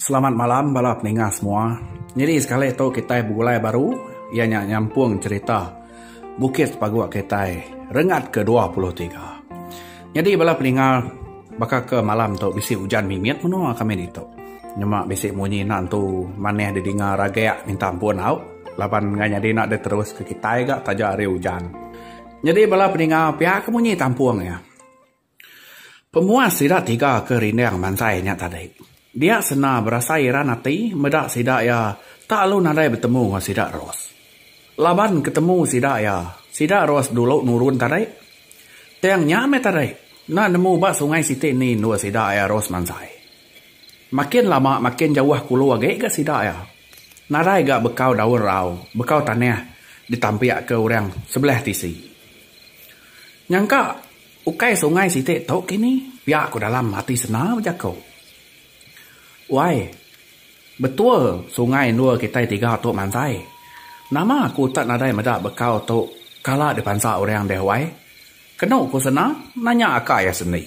Selamat malam bala peninga semua. Nyadi sekali tu kitai begulai baru iya nya nyampung cherita Bukit Sepaguk kitai rengat ke dua puluh tiga. Nyadi bala peninga baka ke malam tu bisi ujan mimit menoa kami ditu. Nyema bisi munyi enda entu manah didinga ragak minta ampun au laban nengah nyadi enda diterus ke kitai ga taja ari ujan. Nyadi bala peninga pia ke munyi tampung iya. Pemuas sida tiga ke rinding mantai nya tadi. Dia sena berasai iran ati meda sida iya tak alu nadai betemu enggau sida Ros. Laban ketemu sida iya, sida Ros dulu nurun tadi. Tang nya meh tadi, enda nemu ba sungai siti ni endur sida iya Ros mantai. Makin lama makin jauh kulu agi ga sida iya. Nadai ga bekau daun rau, bekau tanah ditampik ke orang sebelah tisi. Nyangka. Ukai sungai siti tu kini, pia ku dalam ati Sena bejako. Wai, betul sungai endur kitai tiga tu mantai. Nama aku tak nadai meda bekau tu kala dipansa orang deh wai? kenu ku Sena nanya aka iya sendi.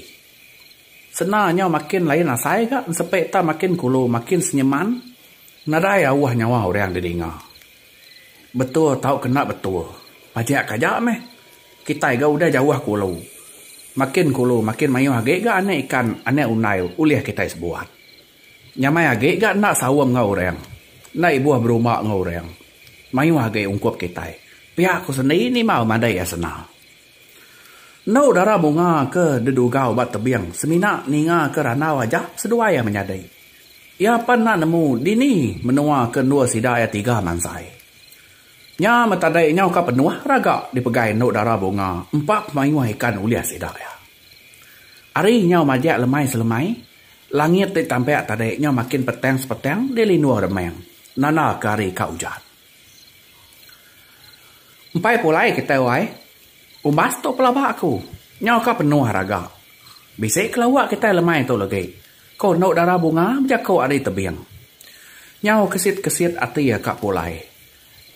Sena nyau makin lain asai ga ensepe ita makin kulu makin senyeman nadai auh nyawa orang didinga. Betul tau kena betul. Pajak ke aja meh. Kitai ga udah jauh ke ulu. Makin ke ulu makin mayuh agi ga anak ikan, anak undai ulih kitai sebuat. Nyamai agi ga enda saung enggau orang. Enda ibuh berumba enggau orang. Mayuh agi ungkup kitai. Pia ku sendiri ni mah madai asna. Endo dara bunga ke dedugau ba tebing semina ninga ke randau aja seduai iya menyadi. Iya pan enda nemu dini menua ke endur sida iya tiga mansai. Nya meh tadi nyau ka penuh raga dipegai endo dara bunga empa pemayuh ikan ulih sida iya. Ari nyau majak lemai selemai, langit ti tampak tadi nyau makin petang sepetang dilinduh remang nanda ke hari ka ujan. Empai pulai kitai wai. Umbas tu pelaba aku. Nyau ka penuh raga. Bisi ke lawa kitai lemai tu legi. Ko endu dara bunga bejaku ari tebing. Nyau kesit kesit ati ka pulai.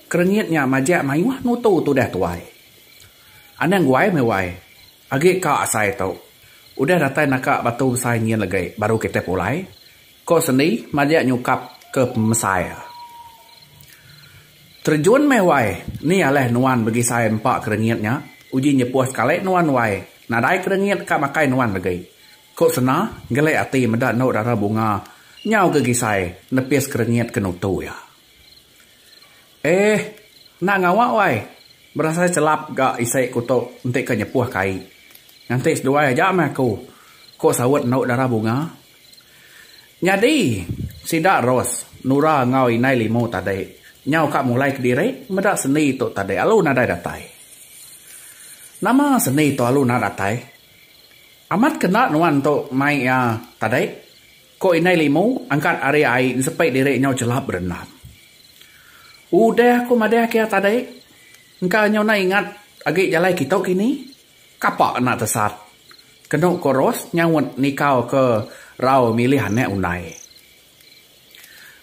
Kerengit nya majak mayuh nutu tudah tuai. Anang guai meh wai. Agi ka asai tu. Udah datai naka batu besai nyin legi baru kitai pulai. Ko sendi majak nyukap ke pemesai. Terjun meh wai ni aleh nuan begisai empa kerengit nya uji nyepuh sekali nuan wai nadai kerengit ka makai nuan legi. Ko Sena ngelik ati meda endo dara bunga nyau gegisai nepis kerengit ke nutu iya. Eeh enda ngawa wai berasai selap ga isi ku tu enti ke nyepuh kai. Nganti seduai aja meh aku ko saut endo dara bunga Nyadi, sida Ros, Nura enggau Inai Limu tadi nyau ka mulai kediri meda seni tu tadi alu nadai datai. Nama seni tu alu enda datai? Amat ke enda nuan tu mai iya tadi? ku Inai Limu angkat ari ai nsepi diri nyau chelap berendam. Udah ku madahka iya tadi, engka nyau enda ingat agi jalai kitu kini. Kapa kena tesat? Kenu Koros nyaut nikau ke rau milih anak undai.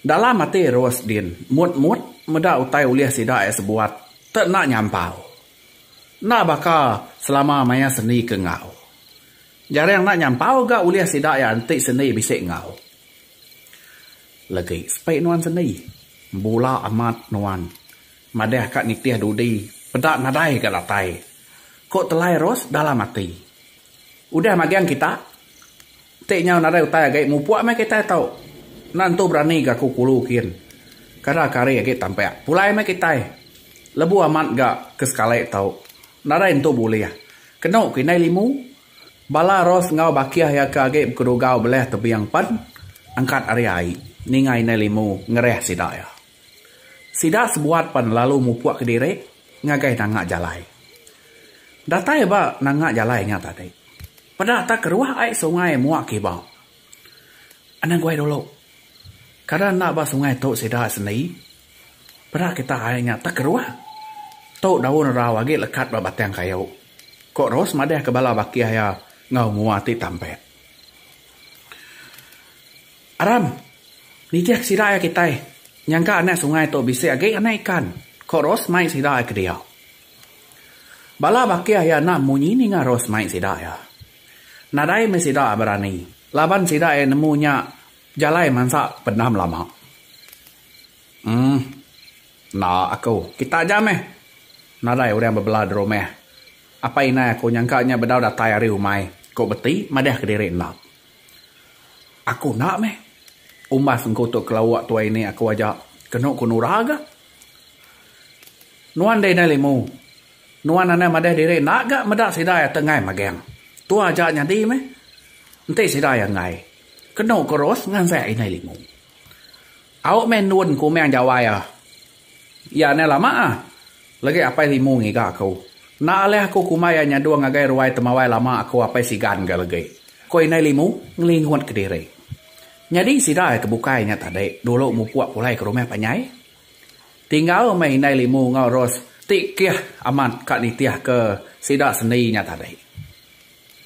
Dalam ati Ros din, mut-mut meda utai ulih sida ai sebuat te enda nyampau. Enda baka selama maya sendi ke enggau. Jarang enda nyampau ga ulih sida iya enti sendi bisi enggau. Legi sepi nuan sendi, bula amat nuan. Madah ka nitih dudi peda nadai ga datai, ko Telai Ros dalam ati. Udah magang kita, enti nyau nadai utai agi mupuk meh kitai tu. Enda nentu berani ga ku Kulu kin. Kada ke hari agi tampak pulai meh kitai. Lebuh amat ga ke sekali tu nadai nentu bulih. Kenu ku indai Limu, bala Ros enggau Bakih iya ke agi bekedugau belah tebing pen angkat ari ai ninga indai Limu ngereh sida iya. Sida sebuat pan lalu mupuk kediri ngagai nanga jalai. Datai ba nanga jalai nya tadi, peda tak keruah ai sungai mua kiba. Anang guai dulu. Kada enda ba sungai tu sida sendi. Peda kita ai nya tak keruah. Tu daun erau agi lekat ba batang kayu, ku Ros madahka bala bakih iya enggau mua ti tampek. Aram! Nitih sida iya kitai, nyangka anak sungai tu bisi agi anak ikan, ko Ros mai sida iya kediau. Bala bakih iya enda munyi ninga Ros mai sida iya. Nadai meh sida iya berani, laban sida iya nemu nya jalai mansa pendam lama. Em, enda aku, kita aja meh. Nadai orang bebela di rumah. Apai indai aku nyangka nya bedau datai ari umai, ko Beti madahka diri endap. Aku enda meh. Umbas engku tu kelawa tuai ni aku aja. Kenu ku Nora ga. Nuan deh indai limu. Nuan anai madah diri enda ga meda sida iya tenggai magang. Tu aja nyadi meh. Enti sida iya enggai. Kenu ku Ros ngansai indai limu. Au meh endun kumang jawai iya. Iya ne lama ah. Legi apai limu ngiga aku. Enda alih aku kumbai iya nyadu ngagai ruai temawai lama aku apai sigan ga legi, ku indai limu ngelingut ke diri. Nyadi sida ke bukai nya tadi dulu mupuk pulai ke rumah panjai. Tinggal meh indai limu enggau Ros ti kih amat ka nitihka sida sendi nya tadi.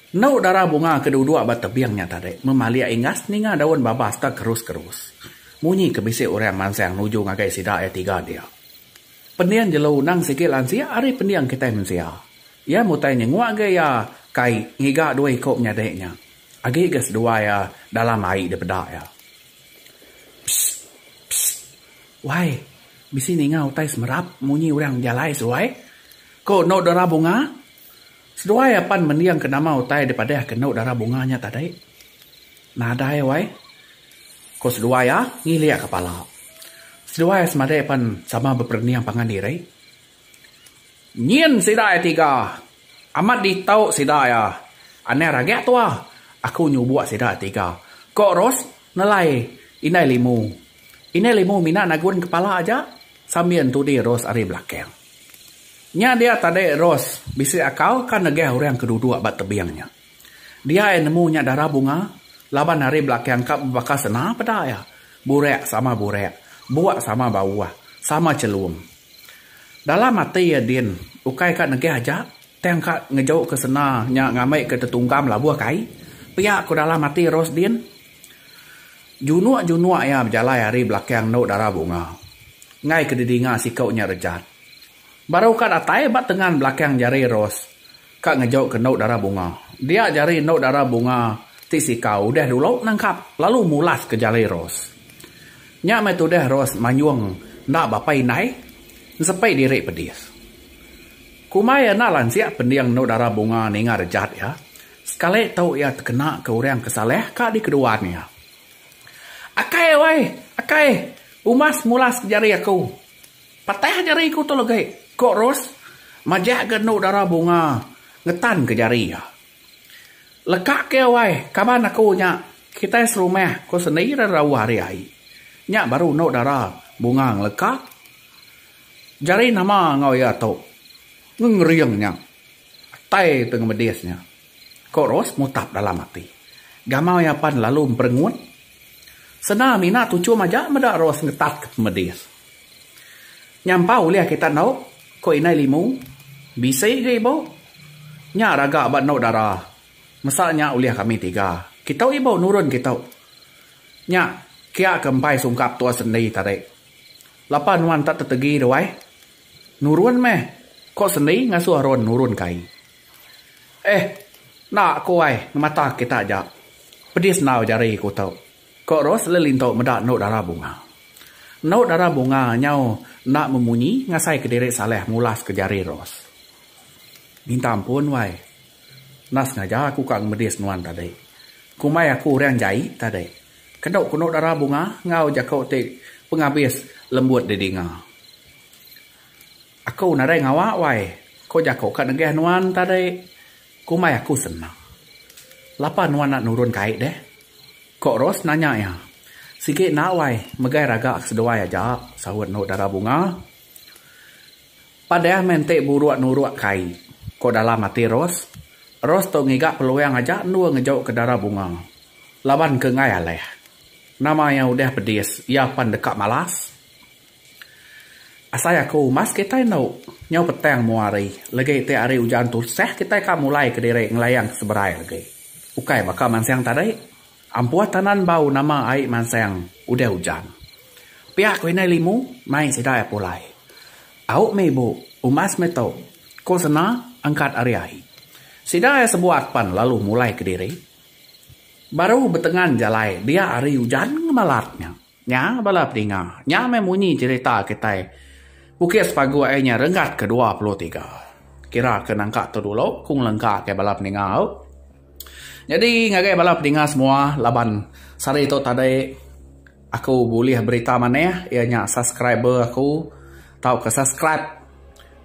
Enu dara bunga ke duduk ba tebing nya tadi memalik inggas ninga daun babas da kerus-kerus. Munyi ke bisi orang mansang nuju ngagai sida iya tiga dia. Pending jelu nang sigi lansik ari pending kitai mensia. Iya mutai nyenguk ga iya kai ngiga dua iku menyadi nya. Agi ga seduai iya dalam ai dipeda iya. Pssst. Pssst. Wai, bisi ninga utai semerap munyi orang bejalai seduai? Ku enu dara bunga. Seduai apan mendingka nama utai dipadahka enda dara bunga nya tadi. Nadai wai, ku seduai iya ngilik kepala. Seduai semadi pan sama beperening pangan diri. Nyin sida iya tiga. Amat ditu sida iya. Anang ragak tua, aku nyubuk sida iya tiga, ku Ros nelai Indai Limu. Indai Limu mina nagun kepala aja sambil ntudi Ros ari belakang. Nya dia tadi Ros bisi akal ka negah orang ke duduk ba tebing nya. Dia iya nemu nya dara bunga laban ari belakang ka bebaka sena peda iya, burak sama burak, buk sama bauh, sama chelum. Dalam ati iya din ukai ka negah aja tang ka ngejuka sena nya ngambika tetunggam labuh kai pia ku dalam ati Ros din. Junuk-junuk iya bejalai ari belakang endu dara bunga. Enggai ke didinga siku nya rejat. Baru ka datai ba tengan belakang jari Rose ka ngejuka endu dara bunga. Dia jari endu dara bunga ti sikau udah dulu nangkap lalu mulas ke jari Rose. Nya meh tudah Rose manyung enda bapa indai ensepi diri pedis. Kumbai enda lansik pending endu dara bunga ninga rejat iya. Sekali tu iya tekena ke orang ke salah ka dikeduan iya. Akai wai, akai, umas mulas ke jari aku. Patah jari ku tu legi, ku Ros majak ga endu dara bunga ngetan ke jari iya. Leka ke iya wai, kaban aku nya, kitai serumah, ku Sendi ira rauh ari ai. Nya baru endu dara bunga ngeleka jari nama enggau iya tu, ngengering nya. Atai tu enggau medis nya, ko Ros mutap dalam ati. Gamau iya pan lalu emperengut. Senda mina tuchum aja meda Ros ngetat ke pemedis. Nyampau ulih kita endo, ko Indai Limu. Bisi ga ibu. Nya raga ba endo dara. Mesa nya ulih kami tiga. Kitu ibu nurun kitu. Nya kia ke empai sungkap tua sendi tadi. Lapa nuan enda tetegi duai. Nurun meh, ko Sendi ngasuh Aron nurun ke ai. Eh, enda ko ai ngemata kita aja. Pedis endau jari ko tu, ko Ros lalu lintu meda endu dara bunga. Endu dara bunga nyau enda memunyi ngasai ke diri Saleh mulas ke jari Ros. Minta ampun wai. Enda sengaja aku ka ngemedis nuan tadi. Kumbai aku orang jai tadi. Kendu kunu dara bunga enggau jaku ti pengabis lembut didinga. Aku nadai ngawa wai, ko jaku ka negeh nuan tadi. Kumbai aku sena. Lapa nuan enda nurun kai deh? Ko Ros nanya iya. Sigi enda wai, megai raga ke seduai aja, saut endu dara bunga. Padah meh enti buruk nuruk kai, ko dalam ati Ros. Ros tu ngiga peluang aja endur ngejau ke dara Bunga. Laban ke enggai alih. Nama iya udah pedis, iya pan deka malas. Asai aku umas kitai endo nyau petang mua hari, legi ti hari ujan tusah kitai ka mulai kediri ngelayang ke seberai legi. Ukai baka mansang tadi. Ampuh tanan bau nama ai mansang udah ujan. Pia ku indai limu mai sidai apulai. Au meh ibu, umas meh tu, ku sena angkat ari ai. Sidai sebuat pan lalu mulai kediri. Baru betengan jalai dia ari ujan ngemalat nya. Nya bala pedinga. Nya meh munyi cherita kitai Bukit Sepagu ai nya renggat ke dua puluh tiga. Kira ke nangka tu dulu ku ngelengka ke bala pedinga au. Nyadi ngagai bala pedinga semua laban sehari tu tadi aku bulih berita maneh iya nya subscriber aku. Tauka subscribe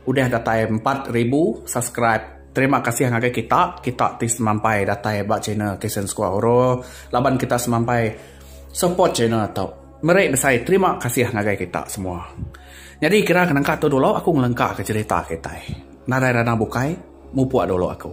udah datai empat ribu subscribe terima kasih ngagai kita kita ti semampai datai ba channel Kasen Sekua Horo laban kita semampai support channel tu meri besai terima kasih ngagai kita semua nyadi kira nangka tu dulu aku ngelengka ka cherita kitai nadai ranau bukai mupuk dulu aku.